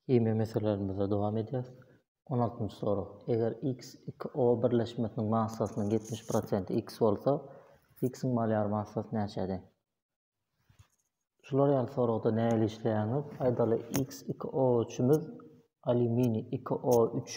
Himiýa meselelerimize dowam edýäris. On altynjy sorag. Eger X iki O birleşmesiniň massasynyň ýetmiş prosenti X bolsa, X-iň molýar massasy näçä deň? Şular ýaly soragda nähili işleýäňiz? Aýdaly, X iki O üçimiz alýuminiý iki O üç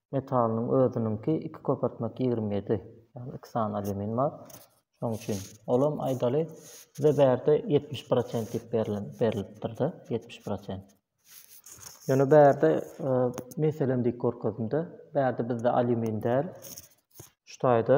metalynyň özüniňki iki köpürtmek ýigrimi ýedi ýagny iki sany alýumin bar şoň üçin olam aýdaly bize bärde ýetmiş prosent diýip berilen berilipdirde ýetmiş prosent ýöne bärde e, meselem diýip görkezimde bärde bizde alýumin däl şu taýda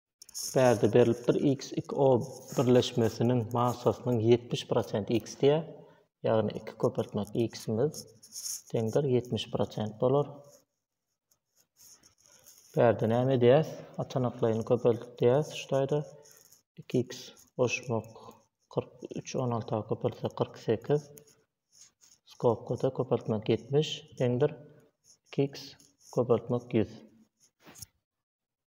Bärde berlipdir, XXO birleşmesiniň massasynyň ýetmiş prosenti X diýýär. Ýagny iki köpeltmek X-imiz deňdir ýetmiş prosent bolar. Bärde näme edýäs? Atanaklaýyny köpeltdik diýýäs şu taýda. iki x goşmak kyrk üç on alta köpeltsek kyrk sekiz. Skobkada köpeltmek ýetmiş deňdir iki x köpeltmek ýüz.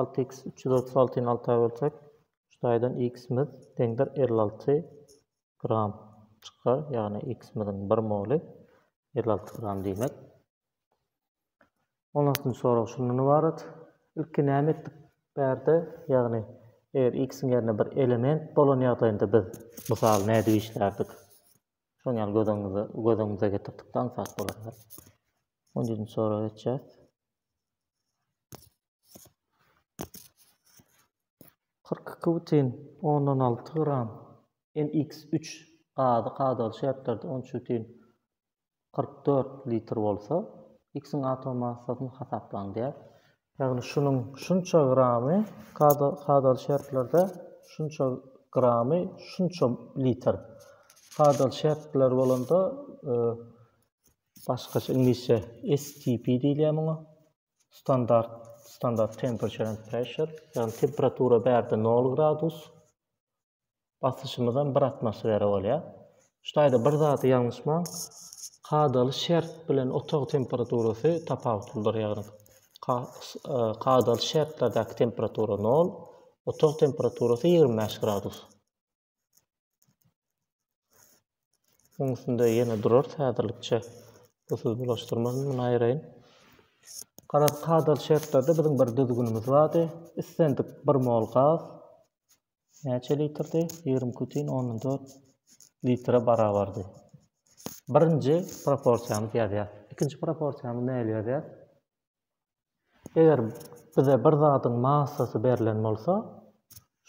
Alty x üç ýüz otuz altyny alta bölsek, üç taýdan x-imiz deňdir elli alty gram çykar, ýagny x-imiziň bir moly elli alty gram diýmek. On altynjy sorag şundan ybarat. Ilki näme etdik bärde? Ýagny, eger x-iň ýerine bir element bolan ýagdaýynda biz mysal nädip işlärdik? Şoň ýaly göz öňümize, göz öňümize getirdik-de aňsat bolar. On ýedinji soraga geçýäs. Kyrk iki bütin ondan alty gram NX üç gazy kadaly şertlerde on üç bütin kyrk dört litr bolsa, X-iň atom massasyny hasaplaň diýýär. Ýagny şunuň şunça gramy kadaly şertlerde şunça gramy şunça litr. Kadaly şertler bolanda başgaça iňlisçe STP diýilýär muňa. Standart, standart temperature and pressure, ýagny temperatura bärde nol gradus, basyşymyzam bir atmosfera bolýar. Şu taýda bir zady ýalňyşmaň, kadaly şert bilen otag temperaturasy tapawutlydyr, ýagny ka, e, kadaly şertlerdäki temperatura nol, otag temperaturasy ýigrimi bäş gradus. Oň üstünde ýene durar häzirlikçe. Bu söz bulaşdyrmazyn muny aýraýyn. Garaz kadaly şertlerde biziň bir düzgünimiz bardy. Islendik bir mol gaz näçe litrdi? 20,14 litre barabardy. Birinji proporsiýamyz ýazýar. Ikinji proporsiýamyz näli ýazýar? Eger bize bir zadyň massasy berlen bolsa,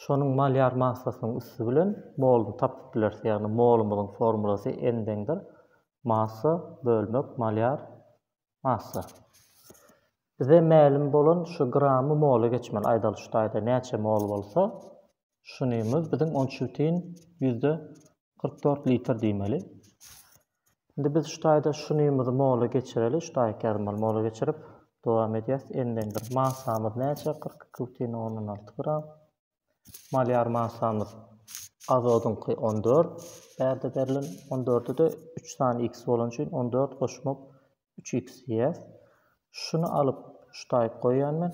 şonuň molýar massasynyň üsti bilen moluny tapyp bileris. Ýagny molumyzyň formulasy N deňdir massa bölmek molýar massa. Bize mälim bolan şu gramy mola geçmeli. Aýdaly şu taýda näçe mol bolsa, Şunymyz biziň onçutin ýüzde kyrk dört litr diýmeli. Indi biz şu taýda şunymyzy mola geçireli. Şu taýy käzmol mola geçirip dowam edýäs. Endendir masamyz näçe? 42,06 gram. Malýar masamyz azodyňky 14. Bärde berlen 14-de 3 sany x bolan üçin 14 goşmak 3x diýýär. Şuny alyp şu taýy goýýan men.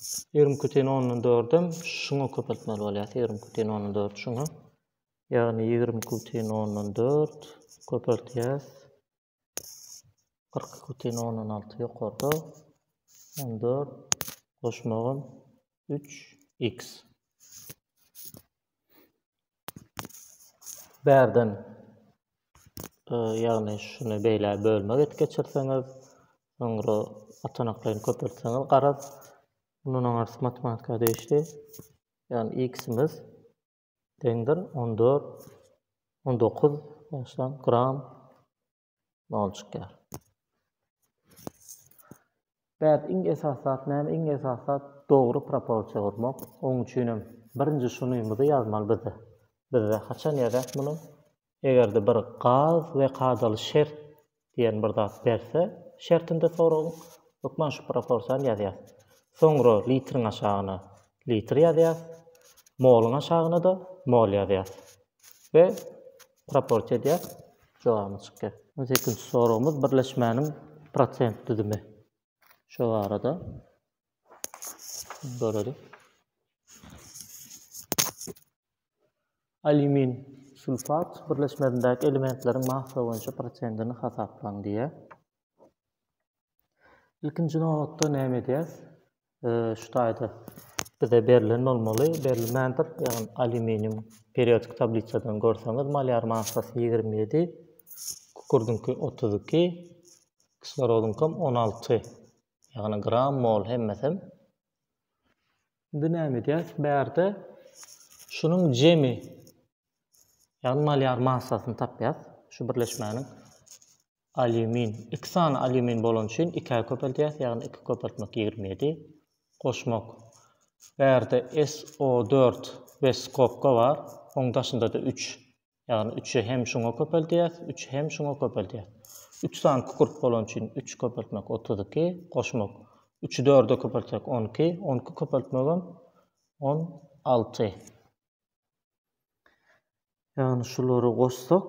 Ýigrimi iki teň ondan dördem şuňa köpeltmeli bolýar. Ýigrimi iki teň ondan dört şuňa. Ýagny ýigrimi iki teň ondan dört köpeltýäs. Kyrk iki teň ondan alty ýokarda. On dört goşmagym üç x. Bärden ýagny şuny beýle bölmek et geçirseňiz, soňra atanaklaryny köpeltseňiz garaz, bundan aňyrsy matematika degişli. Ýagny x-imiz deňdir 14 19 gram nol çykýar. Bäh, iň esasy zat näme? Iň esasy zat dogry proporsiýa gurmak. Oň üçin hem birinji şunymyzy ýazmaly biz. Bizde haçan ýazýas muny? Eger-de bir gaz we kadaly şert diýen bir zat berse, şertinde soragyň, hökman şu proporsiýany ýazýas. Soňra litriň aşagyna litr ýazýas, moluň aşagyna-da mol ýazýas. We Proporsiýa edýär. Jogabymyz çykýar. On sekizinji soragymyz birleşmäniň prosent düzümi. Şo barada görelim. Alýumin sulfat birleşmesindäki elementleriň massa boýunça prosentini hasaplaň diýýär. Ilkinji nobatda näme edýäs? Şu taýda bize berlen bolmaly, berilmändir. Ýagny alýuminium periodik tablisadan görseňiz, molýar massasy 27, kükürdinki 32, kislorodynkam 16. Ýagny gram mol hemmesem. Indi näme edýäs? Bärde şunuň jemi ýagny molýar massasyny tapýas. Şu birleşmäniň Alýumin. Iki sany alýumin bolany üçin ikä köpeldýäs, ýagny iki köpeltmek ýigrimi ýedi. Goşmak. Bärde SO dört we skobka bar, oň daşynda-da üç. Ýagny üçi hem şuňa köpeldýäs, üçi hem şuňa köpeldýäs. Üç sany kükürt bolany üçin üç köpeltmek otuz iki. Goşmak. Üçi dörde köpeltsek on iki, on iki köpeltmegem on alty. Ýagny şulary goşsak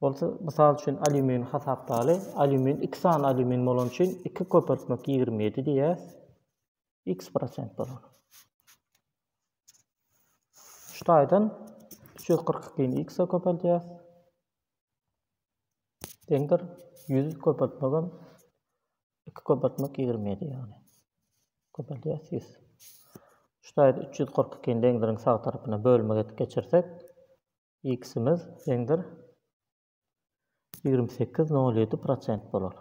Bolsa, mysal üçin, alýumin hasapdaly. Alýumin iki sany alýumin bolan üçin iki köpeltmek ýigrimi ýedi diýýär. X prosent bolar. Şu taýdan üç ýüz kyrk ikini X-e köpeldýär. Deňdir ýüz köpeltmegem 2 köpeltmek 27 ýagny. Köpelýär 100. Şu taýda 342 ni deňdiriň sag tarapyna bölmek edip geçirsek, x-imiz deňdir 28,07 prosent bolar.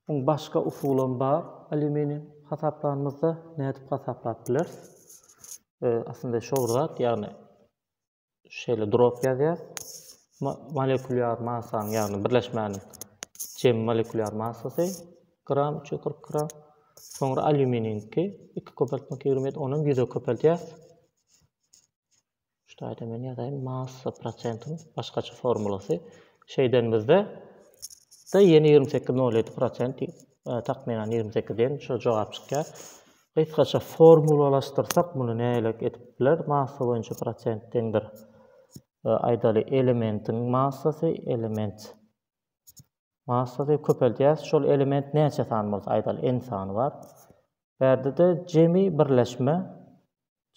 Muň başga usulam bar. Alýuminiň hasaplanymyzda nädip hasaplap bileris? E, aslynda şowzat, ýagny Şeýle drop ýazýar. Molekulýar massaň, ýagny birleşmäniň jem molekulýar massasy gram 340 gram. Soňra alýuminiňki 2 köpeltmek 27, onam 100-e köpeltýär. Şu taýda men ýazaýyn massa prosentiniň başgaça formulasy. Şeýdenimizde da ýene 28,07 prosent takmynan 28 diýen şo jogap çykýar. Gysgaça formulalaşdyrsak muny nälik edip biler massa boýunça prosent deňdir aýdaly elementiň massasy element massasy köpeldýäs şol element näçe sany bolsa aýdaly n sany bar bärdede jemi birleşme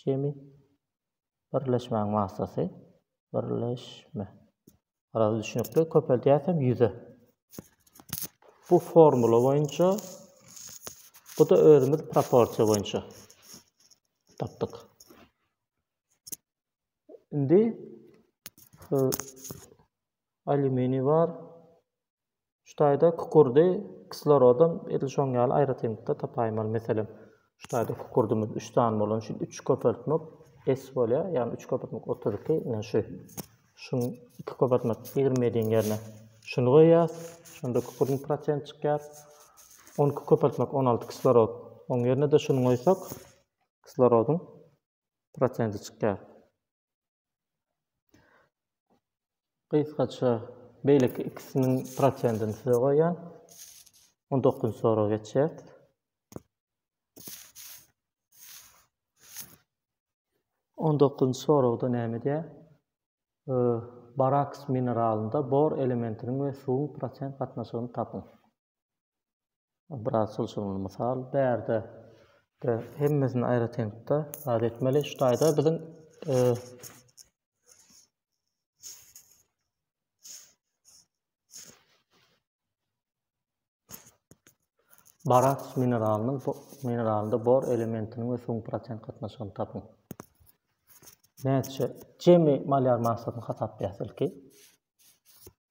jemi birleşmäň massasy birleşme Araz düşnükli köpeldýäsem 100 Bu formula boýunça bu da özümiz proporsiýa boýunça tapdyk. Indi alüminiý bar. Şu taýda kukurdy kislorodam edil şoň ýaly aýratynlykda tapaýmaly. Meselem, şu taýda kukurdymyz üç sany bolany üçin üç köpeltmek S bolýar, ýagny üç köpeltmek otuz iki, ine şu. Şuň iki köpeltmek ýigrimi ýediň ýerine şuny goýýas, şonda kukurdyň prosenti çykýar. On iki köpeltmek on alty kislorod, oň ýerine-de şuny goýsak, kislorodyň prosenti çykýar. Gysgaça beýleki ikisiniň prosentini size goýýan. Onda dokuzynjy soraga geçýäs. On dokuzynjy soragda näme diýýär? Baraks mineralynda bor elementiniň we suwuň prosent gatnaşygyny tapyň. Biraz çylşyrymly mysal bärde de hemmesini aýratynlykda zat etmeli. Şu taýda biziň e, Barat mineralynyň mineralynda bor elementiniň we suwuň prosent gatnaşygyny tapyň. Näçe jemi molýar massasyny hasaplaýarys ilki.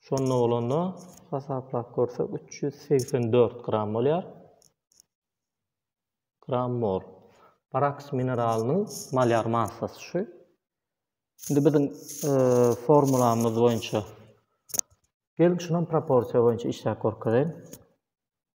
Şonda bolanda hasaplap görsek üç ýüz segsen dört gram bolýar. Gram mol. Baraks mineralynyň malýar massasy şu. Şimdi bizim e, formulamyz boýunça gelin şunam proporsiýa boýunça işläp görkezeýin.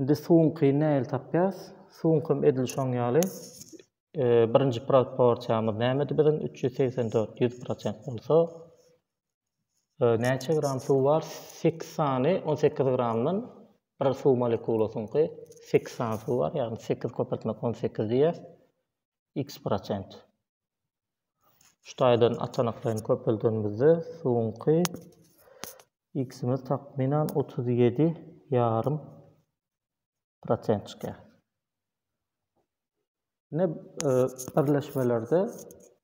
Indi suwuňky nähili tapýas? Suwuňkam edil şoň ýaly. Birinji proporsiýamyz nämedi biziň? Üç ýüz segsen dört ýüz prosent bolsa, näçe gram suw bar? Sekiz sany on sekiz gramdan bir suw molekulasyňky sekiz sany suw bar, ýagny sekiz köpeltmek on sekiz diýýäs. X prosent. Şu taýdan atanaklaýyn köpeldenimizde suwuňky X-imiz takmynan otuz ýedi ýarym prosent çykýar. Ine birleşmelerde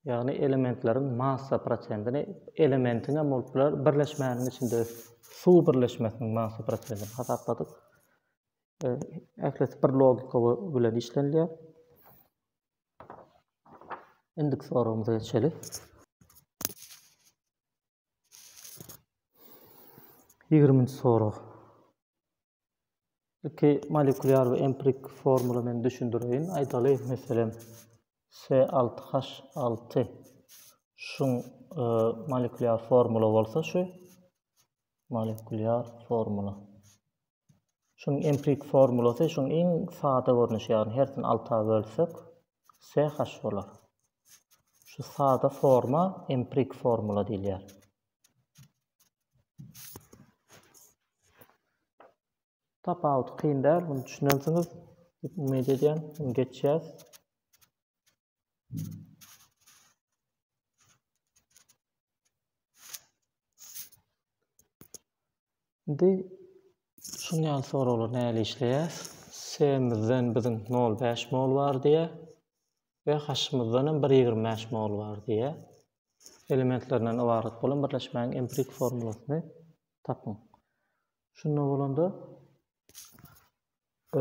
ýagny elementleriň massa prosentini elementiň hem bolup biler birleşmäniň içinde suw birleşmesiniň massa prosentini hasapladyk. Ählisi bir logika bilen işlenilýär. Indiki soragymyza geçeli. Ýigriminji sorag. Ilki molekulýar we empirik formula men düşündireýin. Aýdaly, meselem, S6H6 şuň e, molekulýar formula bolsa şu molekulýar formula. Şunuň emprik formulasy şuň iň sada görnüşi ýagny hersini alta bölsek CH bolar. Şu sada forma emprik formula diýilýär. Tapawudy kyn däl, muny düşünensiňiz diýip umyt edýän. Muny geçýäs. Indi şuň ýaly soraglar näle işleýär? Semizden biziň 0,5 mol bar diýe we haşymyzdan hem 1,25 mol bar diýe. Elementlerinden ybarat bolan birleşmäň empirik formulasyny tapyň. Şunda bolanda e,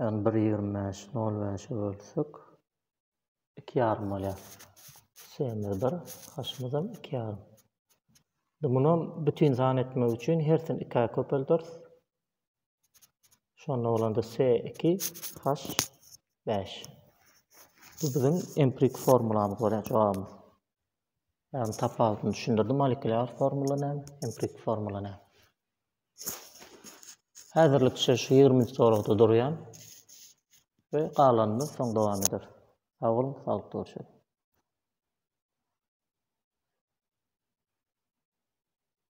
Ýagny bir ýigrimi bäşi nol bäşe bölsek iki ýarym bolýar. Semiz bir, haşymyzam iki ýarym. Indi munam bütin san etmek üçin hersini ikä köpelderis. Şonda bolanda S iki, H bäş. Bu biziň emprik formulamyz bolýar jogabymyz. Ýagny tapawudyny düşündirdim molekulýar formula näme, empirik formula näme. Häzirlikçe şu 20-nji soragda durýan we galanyny soň dowam eder. Sag boluň, saglykda görüşeris.